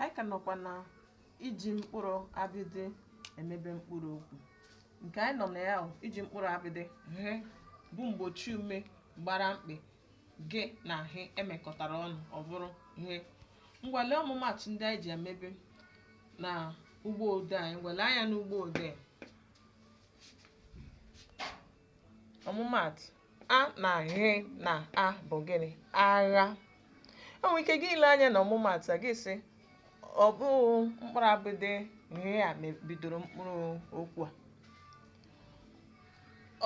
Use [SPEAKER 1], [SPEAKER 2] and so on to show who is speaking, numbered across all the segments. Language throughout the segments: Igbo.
[SPEAKER 1] anyị ka nọkwa na iji mkpụrụ abịdị emebe mkpụrụ okwu nke anyị nọ na ya bụ iji mkpụrụ abịdị ghe bụ mgbochi ume gbara mkpị gị na he emekọtara ọnụ ọ bụrụ ghe ngwa lee ọmụmatụ ndị anyị ji emebe na ugbo ode anyị ngwa lee anya n'ugbo ode ọmụmaatụ a na ghe na a bụ gịnị agha o nwere ike gị ile anya na ọmụmaatụ a gị sị ọ bụ mkpụrụ abịdị ghe a me- bidoro mkpụrụ okwu a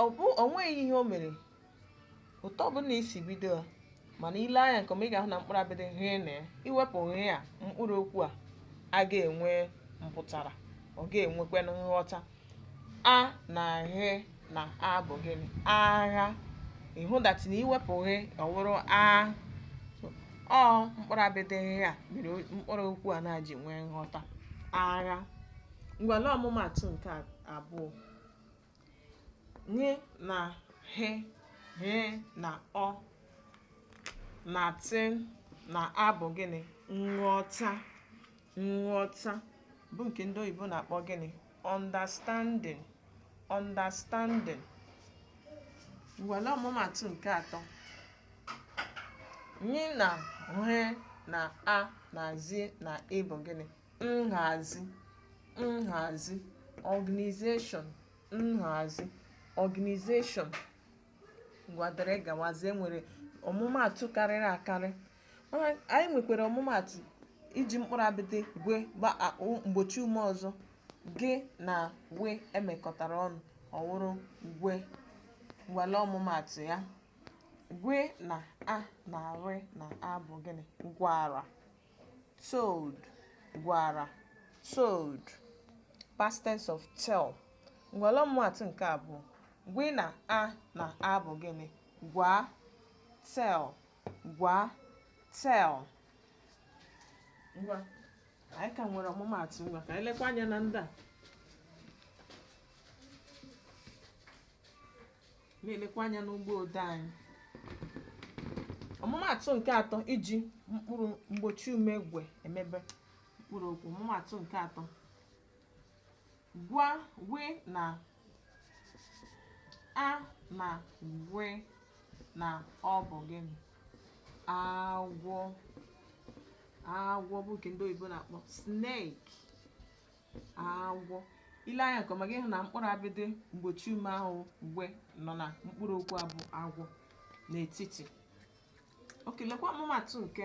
[SPEAKER 1] ọ bụ o nweghị ihe o mere otu ọ bụla i si bido ya mana i lee anya nke ọma ị ga-ahụ na mkpụrụ abịdị ghe na ya i wepụ ghe a mkpụrụ okwu a a ga-enwe mpụtara ọ ga-enwekwa nghọta a na ghe na a bụ gịnị agha ị hụ that na i wepụ ghe ọ wụrụ a ọ mkpụrụ abịdị ghe a mere mkpụrụ okwu a na-ji nwee nghọta agha ngwa lee ọmụmatụ nke abụọ nye na ghe ghe na ọ na tị na a bụ gịnị nghọta nghọta bụ nke ndị oyibo na-akpọ gịnị understanding understanding ngwa lee ọmụmatụ nke atọ nye na he na a na zi na i bụ gịnị nhazi nhazi organization nhazi organization ngwa dịrị gawazie nwere ọmụmaatụ karịrị akarị mana anyị nwekwara ọmụmaatụ iji mkpụrụ abịdị gwe gba a- o- mgbochi ume ọzọ gị na we emekọtara ọnụ ọ wụrụ gwe ngwa lee ọmụmaatụ ya gwe na a na re na a bụ gịnị gwara told gwara told past tense of tell ngwa lee ọmụmatụ nke abụọ gwe na a na a bụ gịnị gwa tell gwa tell ngwa anyị ka nwere ọmụmatụ ngwa ka anyị lekwa anya na ndị a na-elekwa anya n'ugbo ode anyị ọmụmatụ nke atọ iji mkpụrụ mgbochi ume gwe emebe mkpụrụ okwu ọmụmatụ nke atọ ngwanụ a na gwe na ọ bụ gịnị agwọ agwọ bụ nke ndị oyibo na-akpọ snake agwọ i lee anya nke ọma ị ga-ahụ na mkpụrụ abịdị mgbochi ume ahụ gw nọ na mkpụrụ okwu a bụ agwọ n'etiti oke lekwa ọmụmaatụ nke